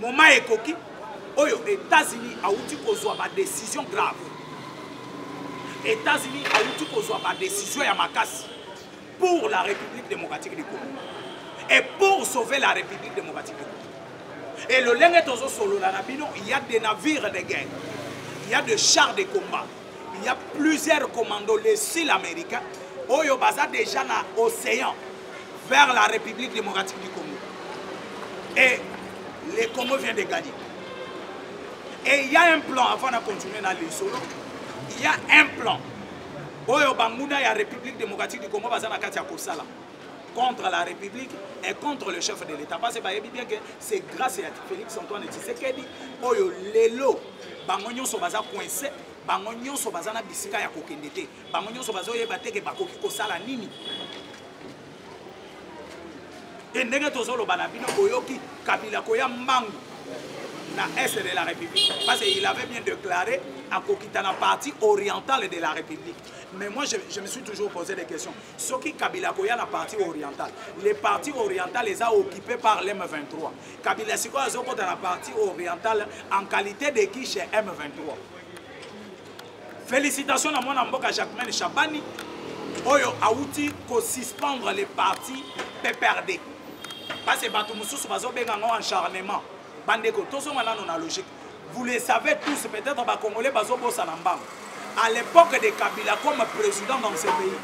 moment ekoki oyo états-unis awuti kozwa badécision grave états-unis awuti kozwa badécision ya makasi pour la république démocratique du congo et pour sauver la république démocratique du congo et lolenge tozosolola na bino il y a des navires de guerre il y a des chars de combat il y a plusieurs commandos les sud américains oyo baza déjà na océan vers la République démocratique du Congo. Et le Congo vient de gagner. Et il y a un plan, avant de continuer dans les solos, il y a un plan. Oyo Banguna, la République démocratique du Congo, Bazana Katia Kosala, contre la République et contre le chef de l'État. Parce que Bayebi bien que c'est grâce à Félix Antoine Tshisekedi, Oyo Lelo, Bango Nyoso Baza coincé, Bango Nyoso Bazana Bisika ya Kokendete. bango nyonso bazoyeba te ke bakoki kosala nini e ndenge tozoloba na bino boyoki kabila koya mbangu na est de la république parce qu'il avait bien déclaré akokita na partie orientale de la république mais moi je, je me suis toujours posé des questions soki kabila koya na partie orientale les parties orientales eza occupé par lm 23 kabila sikoyo azokota na partie orientale en qualité de qui chez m 23 Félicitations na mwana mboka Jacquemain Chabani oyo awuti ko suspendre le parti PPRD. Parce que bato mosusu bazobenga ngo encharnement. Bandeko tozonga nano na logique. Vous le savez tous peut-être ba Congolais bazobosa na mbango. À l'époque de Kabila comme président dans ce pays.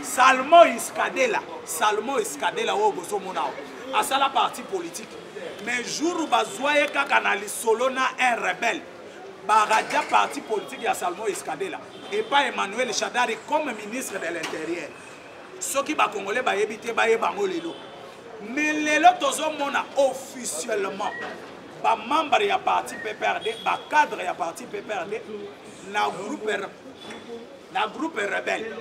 Salmo Iskadela, Salmo Iskadela oyo bozomona asala parti politique. Mais jour bazwa ye kaka na lisolo na un rebelle baradia parti politique ya salmo escadela epa emmanuel shadari comme ministre de l'intérieur soki bakongole bayebi te bayeba yango lelo mais lelo tozomona officiellement bamembre ya parti pprd bacadre ya parti pprd na groupe na groupe rebelle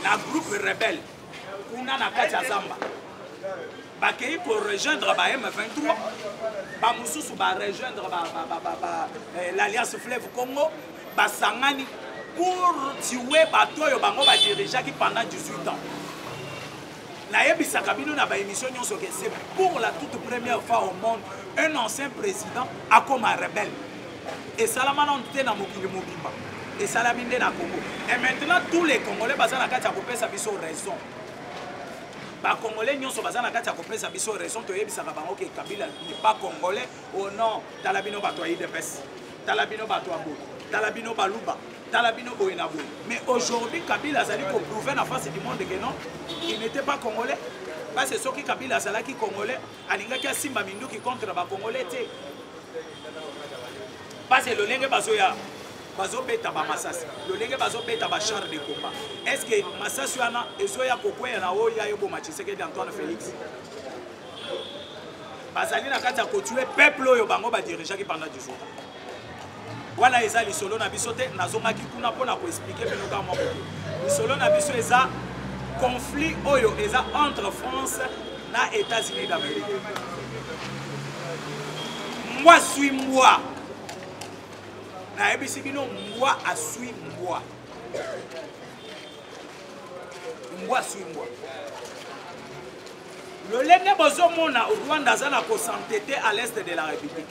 na groupe rebelle kuna na kati ya zamba bakei korejoindre ba m23 bamosusu barejoindre eh, l'alliance fleuve congo basangani pour tue bato oyo bango badirigeaki pendant 18 ans nayebisaka bino na baémission nyonso ke c'est pour la toute première fois au monde un ancien président akoma rebelle esalama nanu te na mokili mobimba esalami nde na congo et maintenant tous les congolais baza na kati ya kopesa biso raison bacongolais nyonso baza na kati ya kopesa biso raison toyebisaka bango ke kabila n'est pas congolais o oh non tala bino bato ya idps tala bino bato ya boye tala bino baluba tala bino boye na boye mais aujourd'hui kabila azali koprouve na face du monde ke non il n'était pas congolais parce soki kabila azalaki congolais alingaki asimba minduki contre ba congolais te pase lolenge bazoya bazobeta bamasasi lolenge bazobeta bachar de combat est ce que masasi wana ezoya kokweya na oyo ya eboma tshisekedi antoine félix bazali na kati ya kotue peuple oyo bango badirigeaki pendant 18 ans wana eza lisolo na biso te nazongaki kuna mpo na koexplike bino kaka moko te lisolo na biso eza conflit oyo eza entre france na états-unis d'amérique mbwa swi mbwa nayebisi bino mbwa aswi mbwa mbwa aswi mbwa lolenge bozomona rwanda aza na kosantete à l'est de la république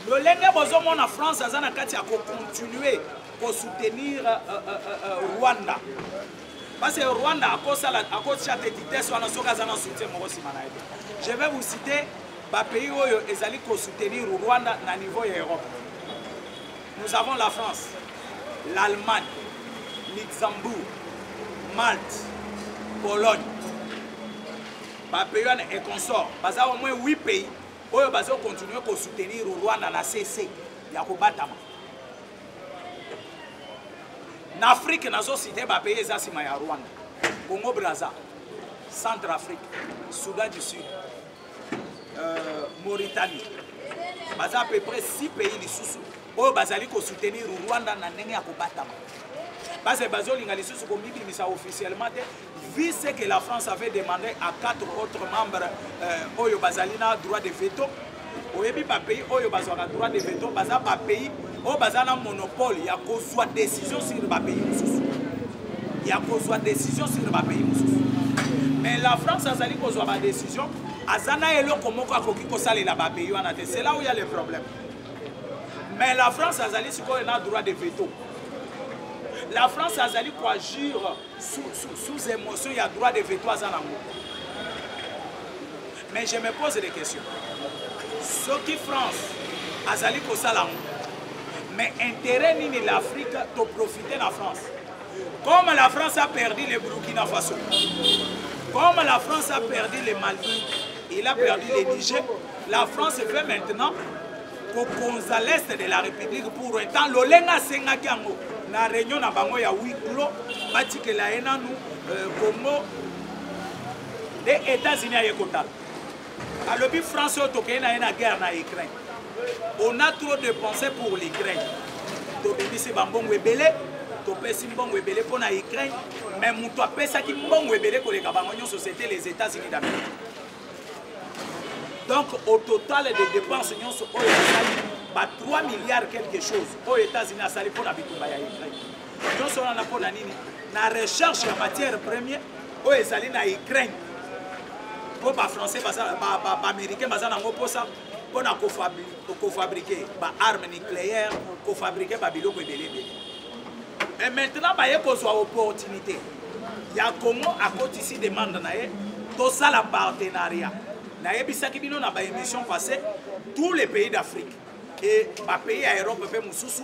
lolenge bozomona france aza na kati ya kocontinue kosoutenir uh, uh, uh, rwanda parce que rwanda akosala akotia te vitesse wana soki aza na soutien moko nsima na ye je vais vous citer bapays oyo ezali kosoutenir rwanda na niveau ya europe Nous avons la France, l'Allemagne, Luxembourg, Malte, Pologne. Ba pays wana et consort, baza au moins 8 pays oyo bazo continuer ko soutenir Rwanda na CC ya kobatama. Na Afrique nazo citer ba pays eza sima ya Rwanda. Congo Brazza, Centre Afrique, Soudan du Sud, euh, mauritanie baza à peu près 6 pays lisusu oyo bazali kosoutenir rwanda na ndenge ya kobatama base bazolinga lisusu komibimisa officiellement te vu ce que la france avait demandé à quatre autres membres euh, oyo bazali na droit de veto oyebi bapays oyo bazwaka droit de veto baza bapays oyo baza na monopole ya kozwa décision sur bapays mosusu ya kozwa décision sur bapays mosusu mais la france azali kozwa badécision aza na eloko moko akoki kosalela bapays wana te c'est là où ya le problème mais la france azali sikoyo na droit de veto la france azali koagir sous, sous, sous émotion ya droit de veto aza nango mais je me pose des questions soki france azali kosala yango mais intérêt nini l'afrique toprofite na france comme la france a perdu le burkina faso comme la france a perdu le mali il a perdu le niger la france fait maintenant kokonza l'est de la république pour un temps lolenge asengaki yango na réunion na bango ya huis clos batikela ye nanu euh, congo nde Etats-Unis aye kotala alobi France oyo tokei na ye na guerre na Ukraine on a trop de pensée pour l'Ukraine tobimisi bambongo ebele topesi mbongo ebele mpo na Ukraine mais moto apesaki mbongo ebele koleka bango nyonso c'était les États-Unis d'Amérique donc au total de dépenses nyonso oyo asali ba 3 milliards quelque chose oyo États-Unis asali mpo na bitumba ya Ukraine nyonso wana mpo na nini na recherche ya matière premier oyo ezali na ukraine mpo bafrançais baaméricain baza nango mposa mpo na kofabrike baarme nucléaire kofabrike babiloko ebele ebele mais maintenant baye kozwa opportunité ya congo akotisi demande na ye tosala partenariat nayebisaki bino na baémission passé tous les pays d'afrique e bapays ya europe mpe mosusu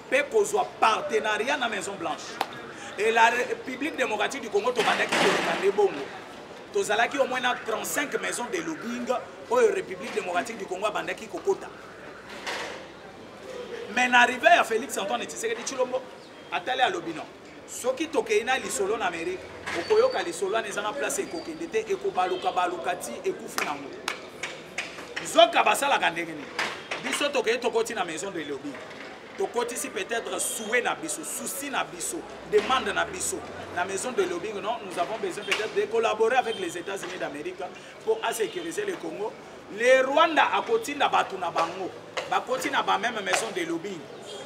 mpe kozwa partenariat na maison blanche et la république démocratique du congo tobandaki koloba nde bongo tozalaki au moins na 35 maison de lobbying oyo république démocratique du congo abandaki kokota mais na arrivé ya félix antoine tshisekedi tshilombo atali alobi non soki tokei na lisolo na amerika okoyoka lisolo wana eza na place ekokende te ekobaluka baluka ti ekufi nango nzoka basalaka ndenge nini biso tokei tokoti na maison de lobi tokotisi peut-être souhait na biso souci na biso demande na biso na maison de lobbying non nous avons besoin peut-être de collaborer avec les états-unis d'amérique mpo a sécuriser le Congo le Rwanda akotinda bato na bango bakoti na ba même maison de lobbying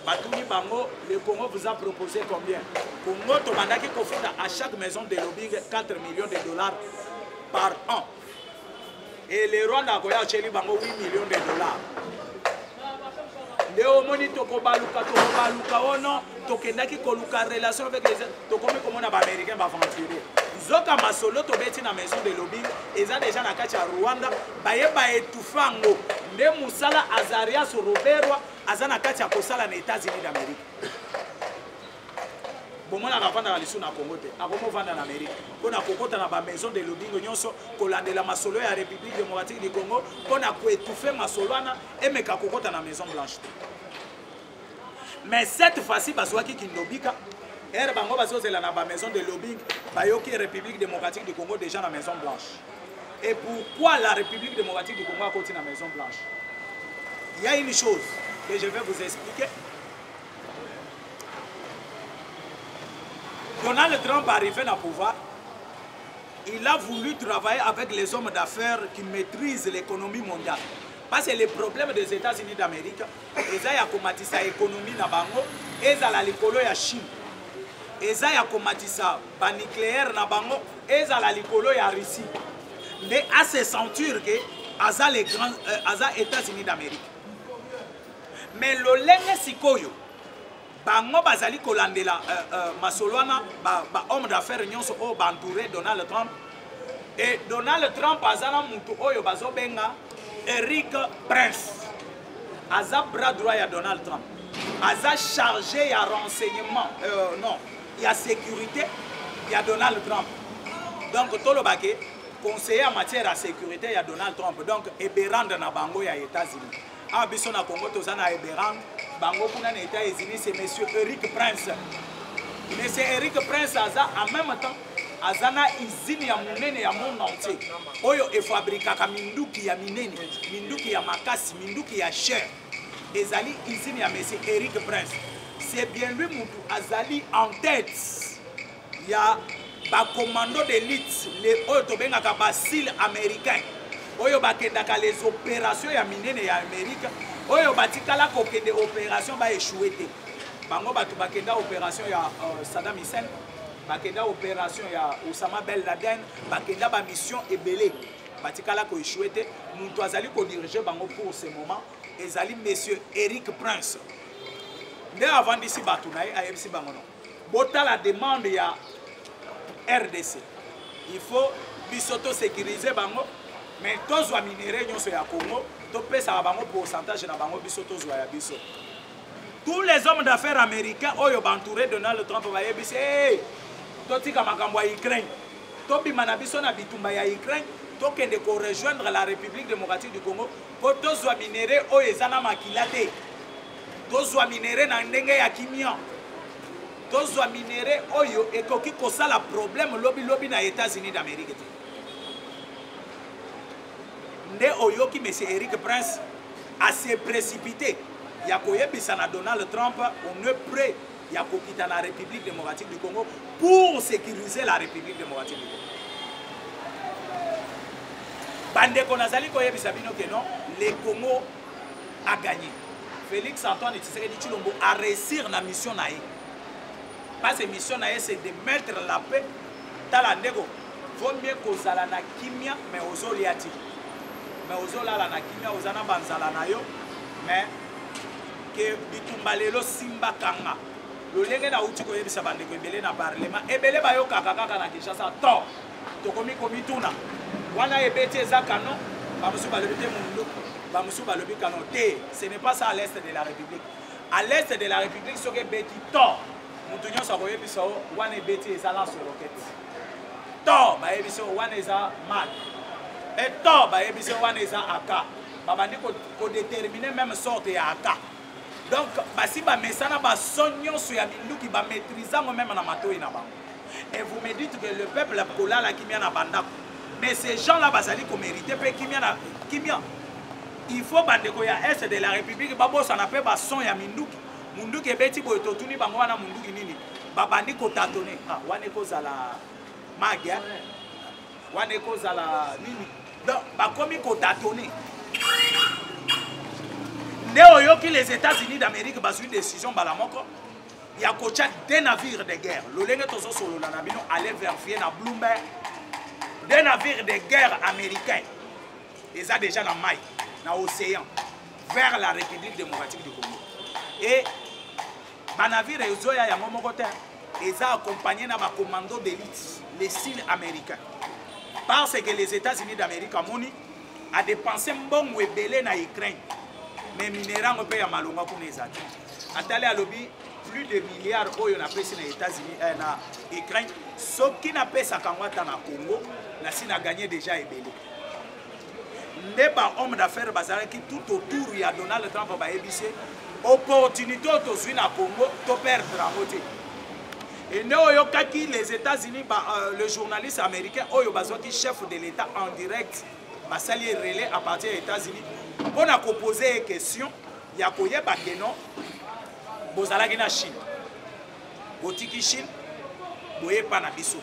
batuni bango le Congo vous a proposé combien Congo tobandaki kofuta à chaque maison de lobbying 4 millions de dollars par an et le Rwanda akoya atyeli bango 8 millions de dollars nde omoni tokobaluka tokobaluka o oh non tokendaki koluka relation avec les tokomi komona baaméricain baaventurier nzoka masolo tobeti na maison de lobing eza deja na kati ya rwanda baye baetufe yango nde mosala azarias roberwa aza na kati ya kosala na états-unis d'amérique bomonaka afandaka lisusu na congo te akomi ofanda na amerike mpo na kokota na bamaison de lobingo nyonso kolandela masolo ya république démocratique du congo mpo na koetouffe masolo wana emeka kokota na maison blanche te mais cette fois-ci bazwaki kindobika ere bango bazozela na bamaison de lobing bayoki république démocratique du congo déjà na maison blanche et pourquoi la république démocratique du congo akoti na maison blanche il y a une chose que je vais vous expliquer Donald Trump arrivé na pouvoir, il a voulu travailler avec les hommes d'affaires qui maîtrisent l'économie mondiale. Parce que les problèmes des États-Unis d'Amérique, eza ya komatisa économie na bango, ezala likolo ya Chine. Eza ya komatisa ba nucléaire na bango, ezala likolo ya Russie. Mais à se sentir que aza les grands euh, aza États-Unis d'Amérique. mais lolenge sikoyo bango bazali kolandela uh, uh, masolo wana bahomme ba d'affaires nyonso oyo baentoure donald trump e donald trump aza na motu oyo bazobenga eric prince aza bras droit ya donald trump aza chargé ya renseignement euh, non ya sécurité ya donald trump donc toloba ke conseiller en matière ya sécurité ya donald trump donc eberande na bango ya états-unis awa biso na congo toza na eberang bango kuna na etat unis se monsieur eric prince monsieur eric prince aza en même temps aza na izine ya monene ya monde entier oyo efabrikaka minduki ya minene minduki ya makasi minduki ya cher ezali izine ya monsieur eric prince c'est bien lui mutu azali en tête ya bacommando d'élite le oyo tobengaka basile américain oyo bakendaka les opération ya minene ya amérique oyo batikala kokende opération baechoue te bango bato bakenda opération ya uh, saddam hussein bakenda opération ya osama bel laden bakenda bamission ebele batikala koechoue te moto azali kodirige bango pour ce moment ezali monsieur eric prince nde avandisi bato na ye ayebisi bango no botala demande ya rdc il faut biso tosécurise bango mais tozwa minere nyonso ya congo topesaka bango pourcentage na bango biso tozwa ya biso tous les hommes d'affaires américains oyo bantouré donald trump bayebisi hey, totika makambo ya ukraine tobima na biso na bitumba ya ukraine tokende korejoindre la république démocratique du congo mpo tozwa minere oyo eza na makila te tozwa minere na ndenge ya kimia tozwa minere oyo ekoki kosala problème lobilobi na états-unis d'amérique te nde oyoki monsieur eric prince ase précipité ya koyebisa na donald trump on est prêt ya kokita na république démocratique du congo pour sécuriser la république démocratique du congo bandeko nazali koyebisa bino ke non le congo a gagné félix antoine tshisekedi tshilombo a réussir na mission na ye parce que mission na ye c'est de mettre la paix tala ndeko vaut mieux kozala na kimia mais ozolia ti mais ozolala na kimia oza na banzala na yo mais ke bitumba lelo simba kanga lolenge nauti koyebisa bandeko ebele na parlement ebele bayokaka kaka na kinshasa to tokomi komituna wana ebeti eza canon bamosusu balobi te mundu bamosusu balobi canon te ce n'est pas ça à l'est de la république à l'est de la république soki ebeti to moto nyonso akoyebisa o wana ebeti eza na soloketi to bayebisi o wana eza mal e to bayebisi o wana eza aka babandi kodetermine meme sorte ya aka donc basi bamesana baso nyonso ya minduki bamaîtrise yango meme na matoi na bango et vous me dites que le peuple a kolala kimia na bandako mais ces gens là bazali komérite mpe kimia na kimia il faut bandeko ya est de la république babosana mpe bason ya minduki munduki ebeti boye totuni bango wana munduki nini babandi kotatone ah, wana ekozala mage wana ekozala nini donc bakomi kotatone nde oyoki les états-unis d'amérique bazwi décision mbala moko ya kotya de navire de guerre lolenge tozosolola na bino ale verifie na bloomberg de navire de guerre américain eza déjà na mai na océan vers la république démocratique du congo e banavire ezoya yango moko te eza accompagné na bacommando d'élite les sile américain parce que les états-unis d'amérique amoni a dépense mbongo ebele na Ukraine mais minera yango mpe ya malonga kuna eza te atali alobi plus de milliard oyo napesi na États-Unis eh, na Ukraine soki napesaka yango ata na Congo nasi na gagné déjà ebele nde ba homme d'affaires bazalaki tout autour ya Donald Trump bayebisi opportunité oyo tozwi na Congo to perdre yango te Et nde oyokaki les États-Unis ba, euh, le journaliste américain oyo bazwaki chef de l'État en direct basali ye relais à partir ya États-Unis mpo na kopose ye question ya koyeba ke non bozalaki na Chine botiki Chine boye epa na biso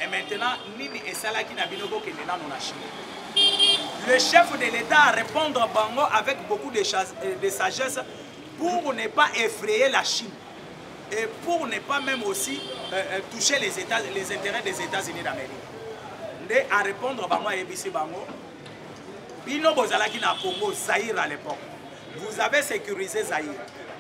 et maintenant nini esalaki na bino bokende nano na Chine le chef de l'État a répondre bango avec beaucoup de, euh, de sagesse pour ne pas effrayer la Chine et pour ne pas même aussi euh, euh, toucher les, états, les intérêts des États-Unis d'Amérique. Nde à répondre bango ayebisi bango bino bozalaki na Congo Zaïre à l'époque. Vous avez sécurisé Zaïre.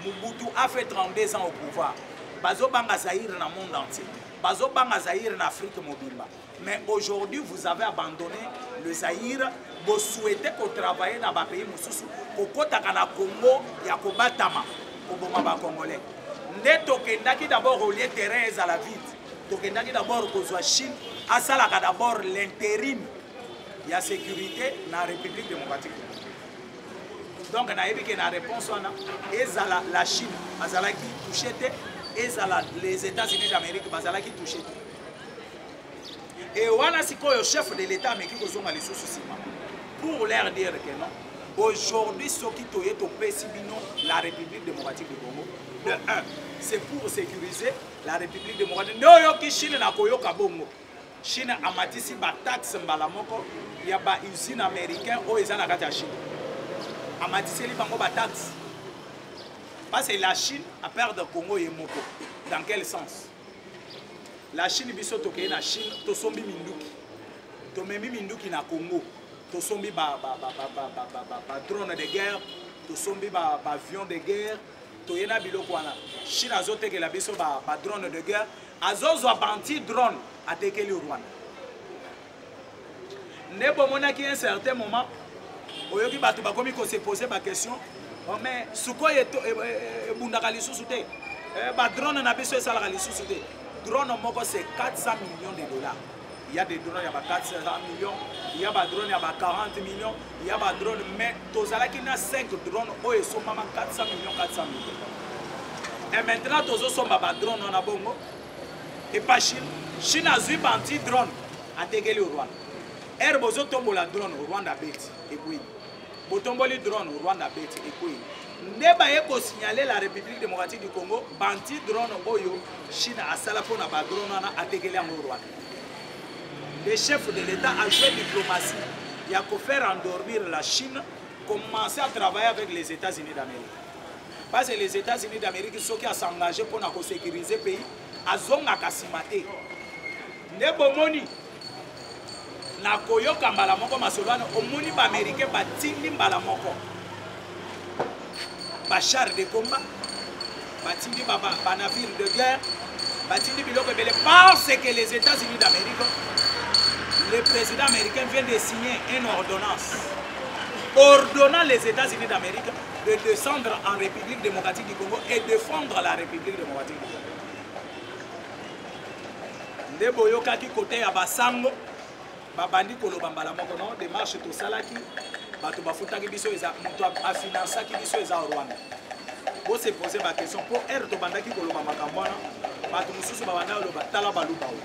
Mobutu a fait 32 ans au pouvoir. Bazo banga Zaïre na monde entier. Bazo banga Zaïre na Afrique mobimba. mais aujourd'hui vous avez abandonné le zaïre bosouhaite kotravaille na bapays mosusu kokotaka na congo ya kobatama koboma bacongolais nde tokendaki d'abord olie terrain ezala vide tokendaki d'abord kozwa chine asalaka d'abord l'intérim ya sécurité na république démocratique donc nayebi ke na réponse wana ezala la chine azalaki touche te ezala les états-unis d'amérique bazalaki touche te e wana sikoyo chef de l'etat ameki kozonga lisusu nsima pour leur dire que non aujourd'hui soki toye topesi bino la république démocratique du congo de 1 c'est pour sécuriser la république démocratique nde oyoki chine na koyoka bongo chine amatisi bataxe mbala moko ya bausine américain oyo eza na kati ya chine amatiseli bango bataxe parce que la chine aperdre congo ye moko dans quel sens la chine biso tokei na chine tosombi minduki tomemi minduki na congo tosombi badrone de guerre tosombi baavion de guerre toye na biloko wana chine azotekela biso badrone de guerre azozwa banti drone atekeli rwanda nde bomonaki un certain moment oyoki bato bakomi kosepose baquestion oh, mais sukoi e, e, e, ebundaka lisusu te eh, badrone na biso esalaka lisusu te drone moko c'est 400 millions de dollars il y a des drones ya ba 400 millions il y a ba drones ya ba 40 millions il y a ba drones mais tozalaki na 5 drones oyo esombama 400 millions 400 millions et maintenant tozosomba ba drones wana bongo epa chine chine azwi banti drone atekeli rwanda ere bozotombola drone rwanda abeti ekwei botomboli drone rwanda abeti ekwei nde baye kosignale la république démocratique du congo banti drone oyo chine asala mpo na badrone wana atekeli yango rwanda le chef de l'état a joué diplomatie ya kofaire endormir la chine commencer à travailler avec les états-unis d'amérique parce que les états unis d'amérique soki asengage mpo na kosécurise pays azongaka nsima te nde bomoni na koyoka mbala moko masolo wana omoni baaméricain batindi mbala moko bachar de combat batindi banavire de guerre batindi biloko ebele parce que les états unis d'amérique le président américain vient de signer une ordonnance ordonnant les états unis d'amérique de descendre en République démocratique du Congo et défendre la République démocratique du Congo. nde boyokaki kote ya basango babandi koloba mbala moko no demarche tosalaki bato bafutaki biso eza moto afinansaki biso eza rwanda bose pose baquestion mpo ere tobandaki koloba makambo wana bato mosusu babanda koloba tala baluba oyo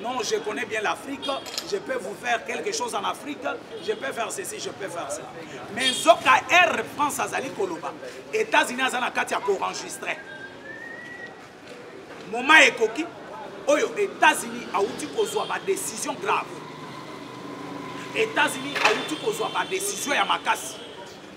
Non, je connais bien l'Afrique, je peux vous faire quelque chose en Afrique, je peux faire ceci, je peux faire cela. Mais Zoka Air France Azali Koloba, États-Unis Azana Katia pour enregistrer. Moment Ekoki, Oyo, États-Unis a outi kozwa ma décision grave. États-Unis a outi kozwa ma décision ya makasi.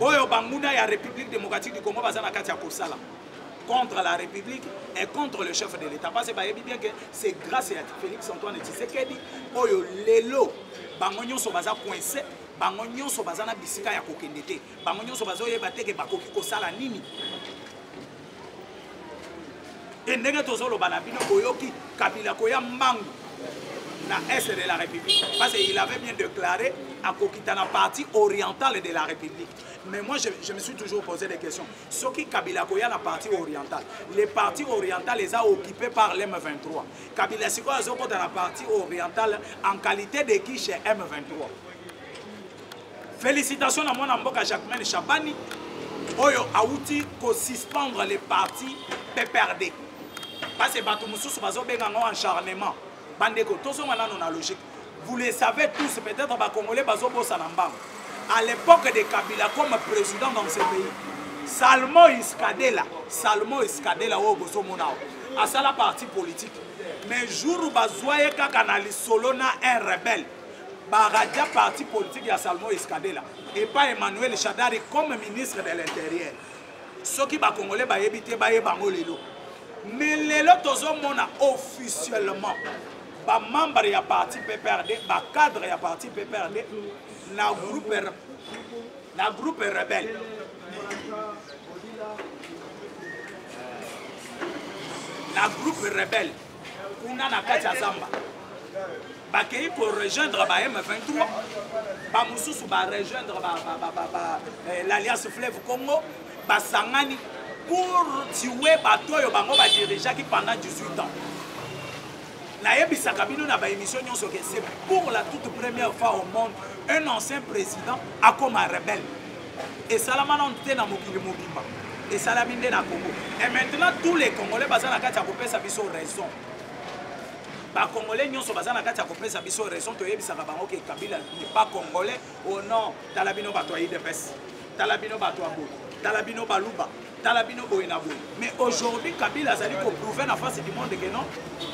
oyo banguna ya république démocratique du congo baza na kati ya kosala contre la république et contre le chef de l'état parce bayebi bien que c'est grâce ya félix antoine tshisekedi oyo lelo bango nyonso baza coince bango nyonso baza na bisika ya kokende te bango nyonso bazoyeba te ke bakoki kosala nini e ndenge tozoloba na bino boyoki kabila koya mbangu na est de la république parce qu'il avait bien déclaré akokita na partie orientale de la république mais moi je, je me suis toujours posé des questions soki kabila koya na partie orientale les parties orientales eza occupé par le m23 kabila sikoyo azokota na partie orientale en qualité de qui chez m23 Félicitations na mwana mboka Jacquemain Chabani oyo awuti ko suspendre le parti PPRD. Parce que bato mosusu bazobenga ngo encharnement. Bandeko tozonga nano na logique. Vous le savez tous peut-être ba congolais bazobosa na mbango. À l'époque de Kabila comme président dans ce pays. Salmo Iskadela, Salmo Iskadela oyo bozomona asala parti politique. Mais jour bazwa ye kaka na lisolo na un rebelle baradia parti politique ya salmo escadela epa emmanuel shadari comme ministre de l'intérieur soki bakongole bayebi te bayeba yango lelo mais lelo tozomona officiellement bamembre ya parti pprd bacadre ya parti pprd na groupe na groupe rebelle na groupe rebelle kuna na kati ya zamba bakei korejoindre ba m23 bamosusu barejoindre eh, l'alliance fleuve congo basangani pour tue bato oyo bango badirigeaki pendant 18 ans nayebisaka bino na baémission nyonso ke c'est pour la toute première fois au monde un ancien président akoma rebelle esalama nanu te na mokili mobimba esalami nde na congo et maintenant tous les congolais baza na kati ya kopesa biso raison bacongolais nyonso baza na kati ya kopesa biso raison toyebisaka bango ke kabila pas congolais o oh non tala bino bato ya idps tala bino bato ya boye tala bino baluba tala bino boye na boye mais aujourd'hui kabila azali koprouve na face du monde ke non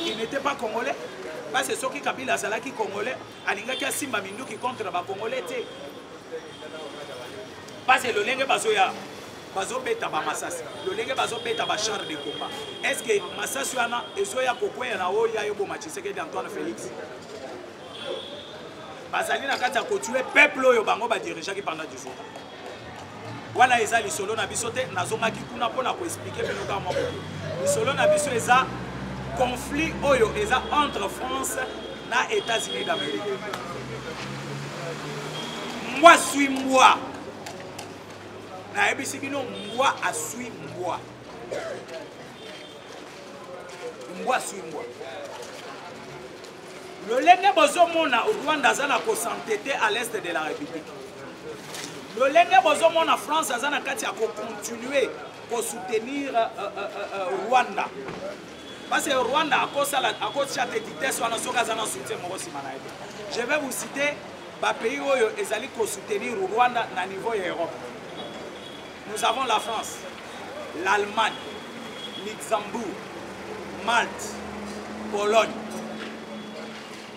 il n'était pas congolais parce soki kabila azalaki congolais alingaki asimba minduki contre ba congolais te pase lolenge bazoya bazobeta bamasasi lolenge bazobeta bachar de combat est ce que masasi wana ezoya kokweya na oyo ya eboma tshisekedi antoine félix bazali na kati ya kotue peuple oyo bango badirigeaki pendant 18 ans wana eza lisolo na biso te nazongaki kuna mpo na koexplike bino kaka moko lisolo na biso eza conflit oyo eza entre france na états-unis d'amérique mbwa swi mbwa nayebisi bino mbwa aswi mbwa mbwa aswi mbwa lolenge bozomona rwanda aza na kosantete à l'est de la république lolenge bozomona france aza na kati ya kocontinue kosoutenir uh, uh, uh, rwanda parce que rwanda akosala akotia te vitesse wana soki aza na soutien moko nsima na ye te je vais vous citer bapays oyo ezali kosoutenir rwanda na niveau ya europe Nous avons la France, l'Allemagne, Luxembourg, Malte, Pologne.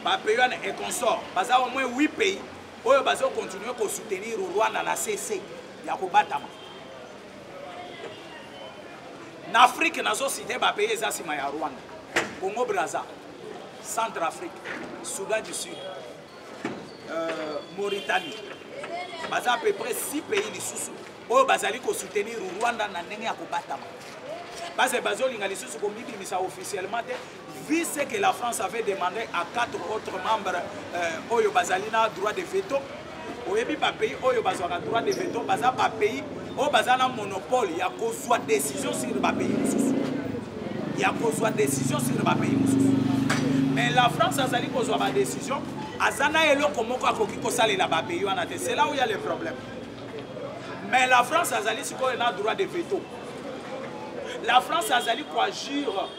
Ba pays wana et consort, baza au moins 8 pays oyo bazo continuer ko soutenir Rwanda na CC ya kobatama. Na Afrique nazo citer ba pays eza sima ya Rwanda. Congo Brazza, Centre Afrique, Soudan du Sud, euh, mauritanie baza à peu près 6 pays lisusu oyo bazali kosoutenir rwanda na ndenge ya kobatama base bazolinga lisusu komibimisa officiellement te vu ce que la france avait demandé à quatre autres membres euh, oyo bazali na droit de veto oyebi bapays oyo bazwaka droit de veto baza bapays oyo baza na monopole ya kozwa décision sur bapays mosusu ya kozwa décision sur bapays mosusu mais la france azali kozwa badécision aza na eloko moko akoki kosalela bapays wana te c'est là où ya le problème mais la france azali sikoyo na droit de veto la france azali koagir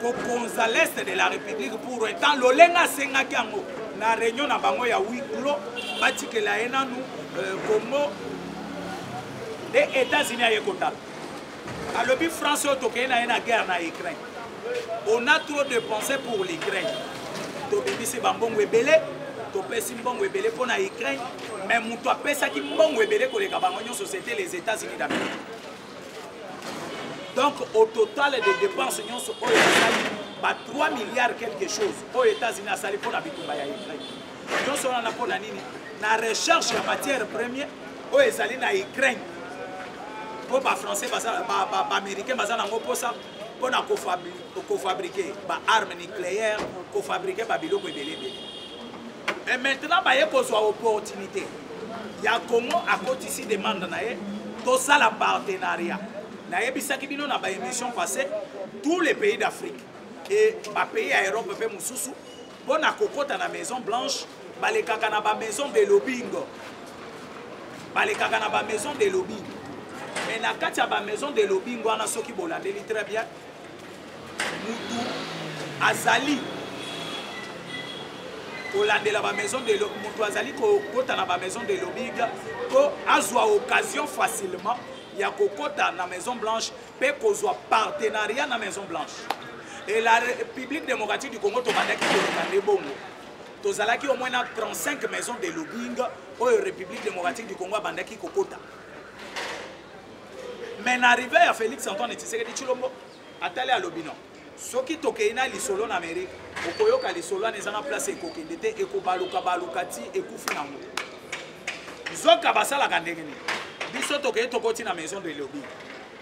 kokonza l'est de la république pour etant lolenge asengaki yango na réunion na bango ya wiclo batikela ye nanu euh, congo nde états-unis aye kotala alobi france oyo tokei na ye na guerre na ukraine on a trop de pensé pour l'ukraine tobimisi bambongo ebele topesi mbongo ebele mpo na ukraine mais moto apesaki mbongo ebele koleka bango nyonso c'était les états-unis d'amérique donc au total de dépense nyonso oyo asali ba 3 milliards quelque chose oyo états-unis asali mpo na bitumba ya ukraine nyonso wana mpo na nini na recherche ya matière première oyo ezali na ukraine mpo bafrançais baaméricain baza nango mposa mpo na kofabrike baarme nucléaire kofabrike babiloko ebele ebele e maintenant baye kozwa opportunité ya congo akotisi demande na ye tosala partenariat nayebisaki bino na baémission passé tous les pays d'afrique e bapays ya europe mpe mosusu mpo na kokɔta na maison blanche balekaka na bamaison de lobingo balekaka na bamaison de lobingo mais na kati ya bamaison de lobingo wana soki bolandeli très bien mutu azali kolandela bamaison de moto azali kokota na bamaison de lobbying mpo azwa occasion facilement ya kokota na maison blanche mpe kozwa partenariat na maison blanche e la république démocratique du congo tobandaki koleka nde bongo tozalaki au moins na 35 maison de lobbying oyo république démocratique du congo abandaki kokota mais na arrivé ya félix antoine tshisekedi tshilombo atali alobi no soki tokei na lisolo na amerike okoyoka lisolo wana eza na place ekokende te ekobaluka baluka ti ekufi nango nzoka basalaka ndenge nini biso tokei tokoti na maison de lobi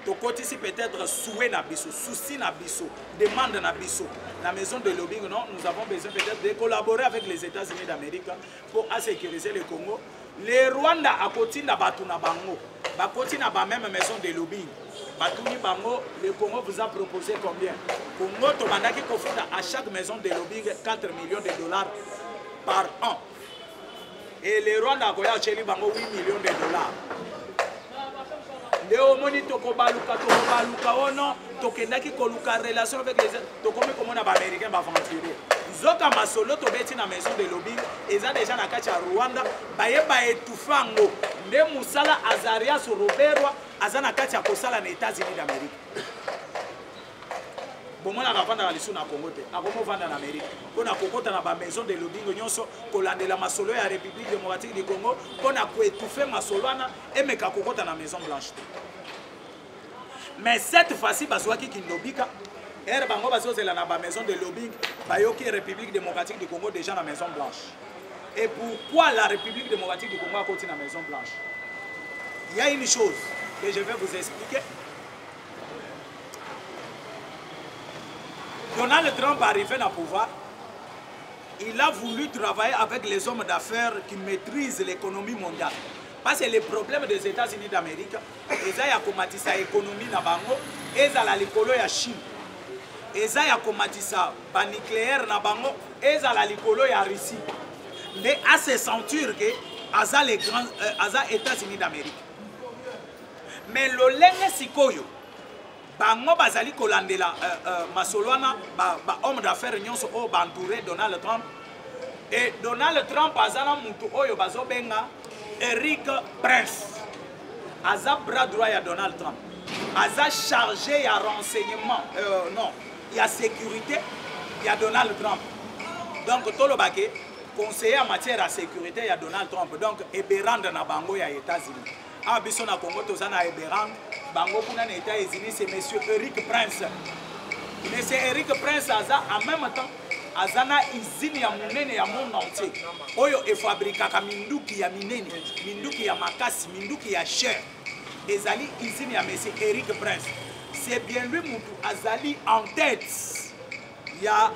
tokotisi peut-être souhait na biso souci na biso demande na biso na maison de lobbying non nous avons besoin peut-être de collaborer avec les états-unis d'amérique pour asécuriser le congo le rwanda akotinda bato na bango bakoti na bameme maison de lobbying batuni bango le congo vous a proposé combien congo tobandaki kofuta à chaque maison de lobbying 4 millions de dollars par an et le rwanda akoya atyeli bango 8 millions de dollars nde omoni tokobaluka tokobaluka ono tokendaki koluka relation avec les tokomi komona baaméricain baaventurier nzoka masolo tobeti na maison de lobing eza deja na kati ya rwanda baye baetufe yango nde mosala azarias roberwa aza na kati ya kosala na états-unis d'amérique bomonaka afandaka lisusu na congo te akomi ofanda na amerike mpo na kokota na bamaison de lobingo nyonso kolandela masolo ya république démocratique du congo mpo na koetouffe masolo wana emeka kokota na maison blanche te mais cette fois-ci bazwaki kindobika ere bango bazozela na bamaison de lobing bayoki république démocratique du congo déjà na maison blanche et pourquoi la république démocratique du congo akoti na maison blanche il y a une chose que je vais vous expliquer Donald Trump arrivé na pouvoir, il a voulu travailler avec les hommes d'affaires qui maîtrisent l'économie mondiale. Parce que les problèmes des États-Unis d'Amérique, eza ya komatisa économie na bango, ezala likolo ya Chine. Eza ya komatisa ba nucléaire na bango, ezala likolo ya Russie. Mais à se sentir que aza les grands euh, aza États-Unis d'Amérique. mais lolenge sikoyo bango bazali kolandela euh, euh, masolo wana bahomme d'affaires nyonso oyo baentoure donald trump e donald trump aza na motu oyo bazobenga eric prince aza bras droit ya donald trump aza chargé ya renseignement euh, non ya sécurité ya donald trump donc toloba ke conseiller ya matière ya sécurité ya donald trump donc eberande na bango ya états-unis awa biso na congo toza na eberang bango kuna na etat unis se monsieur eric prince monsieur eric prince aza en même temps aza na izine ya monene ya monde entier oyo efabrikaka minduki ya minene minduki ya makasi minduki ya cher ezali izine ya monsieur eric prince c'est bien lui mutu azali en tête ya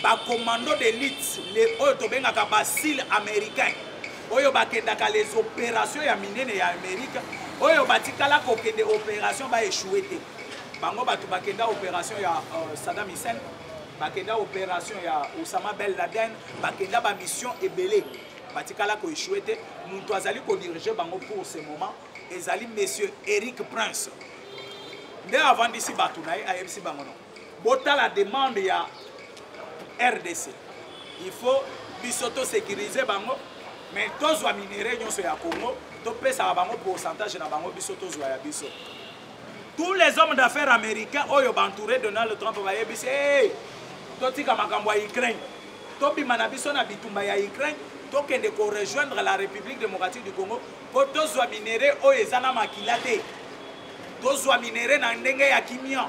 bacommando d'élite le oyo tobengaka basile américain oyo bakendaka les opération ya minene ya amérique oyo batikala kokende opération baechoue te bango bato bakenda opération ya uh, saddam hussein bakenda opération ya osama bel laden bakenda bamission ebele batikala koechoue te moto azali kodirige bango pour ce moment ezali monsieur eric prince nde avandisi bato na ye ayebisi bango no botala demande ya rdc il faut biso tosécurise bango mais tozwa minere nyonso ya congo topesaka bango pourcentage na bango biso tozwa ya biso tous les hommes d'affaires américains oyo bantouré donald trump bayebisi hey, totika makambo ya ukraine tobima na biso na bitumba ya ukraine tokende korejoindre la république démocratique du congo mpo tozwa minere oyo eza na makila te tozwa minere na ndenge ya kimia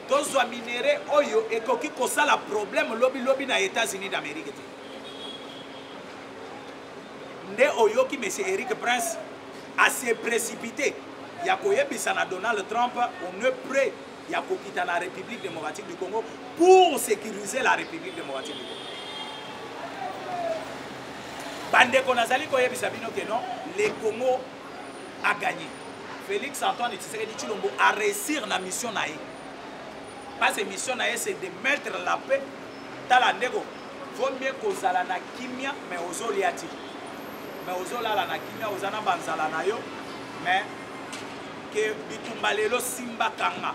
tozwa minere oyo ekoki kosala problème lobilobi na états-unis d'amérique te nde oyoki monsieur eric prince ase précipité ya koyebisa na donald trump on ne près ya kokita na République démocratique du Congo pour sécuriser la République démocratique du Congo. Bandeko nazali koyebisa bino que non, le Congo a gagné. Félix Antoine Tshisekedi Tshilombo a réussir na mission na ye. Parce que mission na ye c'est de mettre la paix. Tala ndeko, vaut mieux kozala na kimia mais ozolia ti. Mais ozolala na kimia oza na banzala na yo mais ke bitumba lelo simba kanga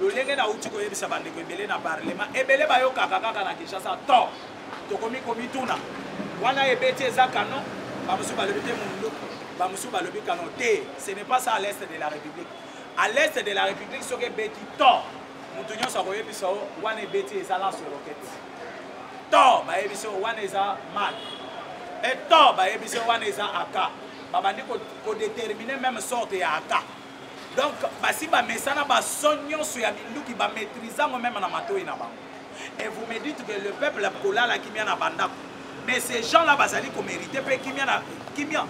lolenge nauti koyebisa bandeko ebele na parlema ebele bayokaka kaka na kinshasa to tokomi komituna wana ebeti eza kano bamosusu balobi te mundu bamosusu balobi kano te ce n'est pas ça à l'est de la république à l'est de la république soki ebeti to moto nyonso akoyebisa yo wana ebeti eza lanso rokete to bayebisi yo wana eza mat eto bayebisi yo wana eza aka babandi kodetermine meme sorte ya aka donc basi bamesana baso nyonso ya minduki bamaîtrise yango meme na matoi na bango et vous me dites que le peuple kolala kimia na bandako mais ces gens là bazali komérite mpe kimia na kimia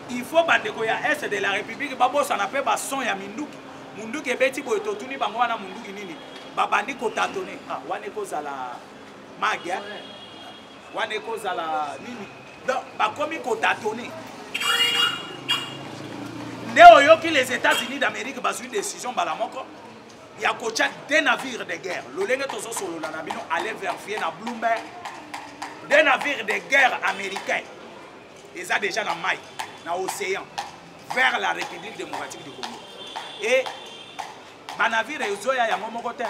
il faut bandeko ya est de la république babosana mpe bason ya minduki munduki ebeti boye totuni bango wana munduki nini babandi kotatone ah, wana ekozala magia wana ekozala nini donc bakomi kotatone nde oyoki les états-unis d'amérique bazwi décision mbala moko ya kotya de navire de guerre lolenge tozosolola na bino ale verifie na bloomberg de navire de guerre américain eza déjà na mai na océan vers la république démocratique du congo et banavire ezoya yango moko te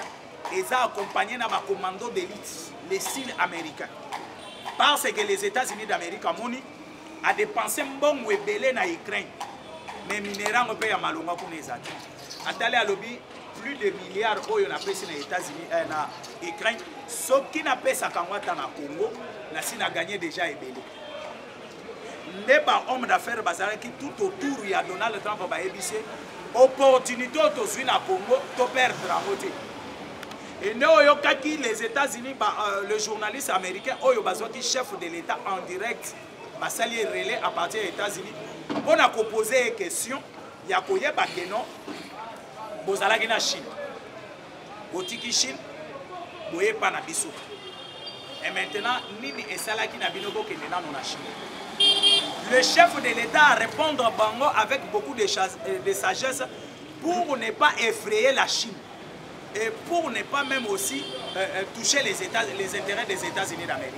eza accompagne na bacommando d'élite les sud américains parce que les états-unis d'amérique amoni adepense mbongo ebele na ukraine mais minere yango mpe ya malonga kuna eza te atali alobi plus de milliard oyo napesi na états-unis eh, na ukraine soki napesaka yango ata na congo nasi na gagne déjà ebele nde ba homme d'affaires bazalaki tout autour ya donald trump bayebisi ye opportunité oyo tozwi na congo toperdre yango te ende oyokaki les états-unis ba, euh, le journaliste américain oyo bazwaki chef de l'état en direct basali ye relais à partir ya états-unis mpo na kopose ye question ya koyeba keno bozalaki na chine botiki chine boye epa na biso e maintenant nini esalaki na bino bokende nano na chine le chef de l'état a répondre bango avec beaucoup de, euh, de sagesse pour ne pas effrayer la chine et pour ne pas même aussi euh, euh toucher les, états, les intérêts des états-unis d'amérique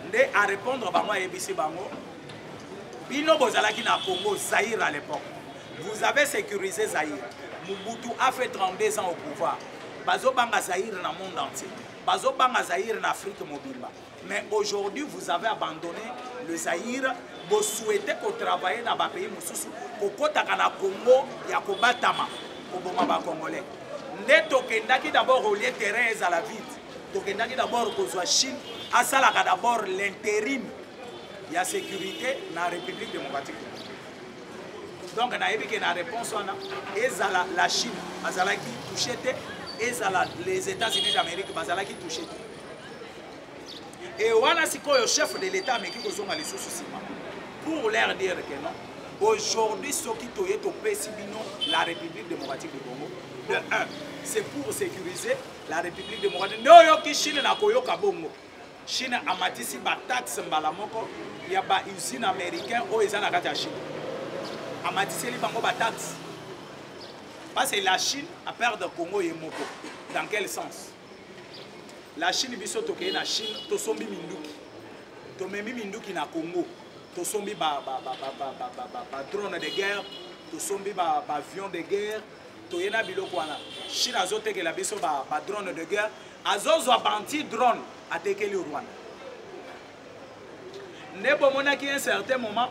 nde a répondre bango ayebisi bango bino bozalaki na congo zaire à l'époque Vous avez sécurisé Zaïre. Mobutu a fait 32 ans au pouvoir. Bazobanga Zaïre na monde entier. Bazobanga Zaïre na Afrique mobimba. Mais aujourd'hui, vous avez abandonné le Zaïre. Vous souhaitez qu'on travaille dans les pays mosusu. Kokotaka na Congo ya kobatama koboma ba Congolais. Nde tokendaki d'abord au lieu terrain ezala vide. Tokendaki d'abord kozwa Chine asalaka d'abord l'intérim ya sécurité na République démocratique. donc nayebi ke na réponse wana ezala la chine azalaki touche te ezala les états-unis d'amérique bazalaki touche te e wana sikoyo chef de l'état ameki kozonga lisusu nsima pour leur dire que non aujourd'hui soki toye topesi bino la république démocratique du congo de 1 c'est pour sécuriser la république démocratique nde oyoki chine na koyoka bongo Chine amatisi ba taxe mbala moko ya ba usine américain oyo eza na kati ya Chine. Amatiseli bango ba taxe. Parce que la Chine a perdre Congo ye moko. Dans quel sens? La Chine biso tokeye na Chine tosombi minduki. Tomemi minduki na Congo. tosombi badrone de guerre tosombi baavion de guerre toye na biloko wana chine azotekela biso ba, ba drone de guerre azozwa banti drone atekeli rwanda nde bomonaki un certain moment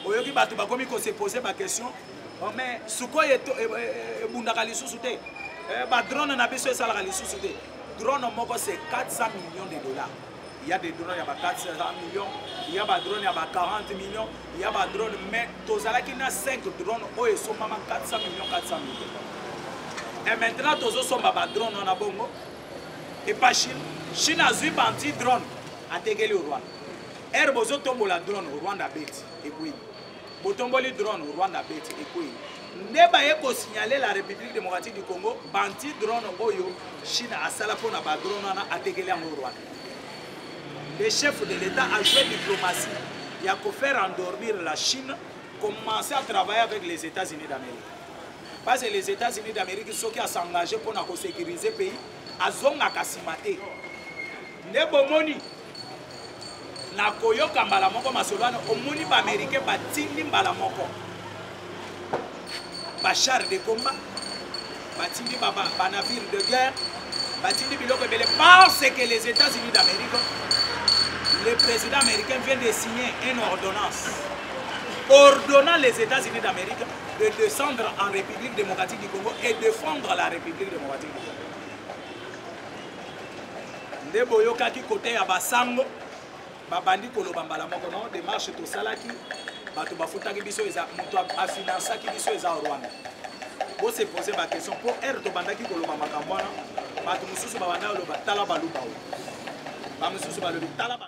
oyoki bato bakomi kose pose baquestion oh, mais sukoi e, e, e, ebundaka lisusu te eh, badrone na biso esalaka lisusu te drone moko se 400 millions de dollars Il y a des drones ya ba 400 millions, il y a ba drones ya ba 40 millions, il y a ba drones mais tozalaki na 5 drones oyo esombama 400 millions 400 millions. Et maintenant tozosomba ba drones wana bongo epa Chine. Chine azwi ba anti drone atekeli Rwanda. Air bozotombola drone Rwanda abeti ekwei. botomboli drone rwanda abeti ekwei nde baye kosignale la république démocratique du congo banti drone oyo chine asala mpo na badrone wana atekeli yango rwanda le chef de l'état a joué diplomatie ya kofaire endormir la chine commencer à travailler avec les états-unis d'amérique parce que les états-unis d'amérique soki asengage mpo na kosécurise pays azongaka nsima te nde bomoni na koyoka mbala moko masolo wana omoni baaméricain batindi mbala moko bachar de combat batindi banavire de guerre batindi biloko ebele parce que les états-unis d'amérique le président américain vient de signer une ordonnance ordonnant les états-unis d'amérique de descendre en république démocratique du congo et de fondre la république démocratique du congo nde boyokaki kote ya basango babandi koloba mbala moko no demarche tosalaki bato bafutaki biso eza moto afinansaki biso eza rwanda bose pose baquestion mpo ere tobandaki koloba makambo wana bato mosusu babanda koloba tala baluba oyo bamosusu balobi tala ba...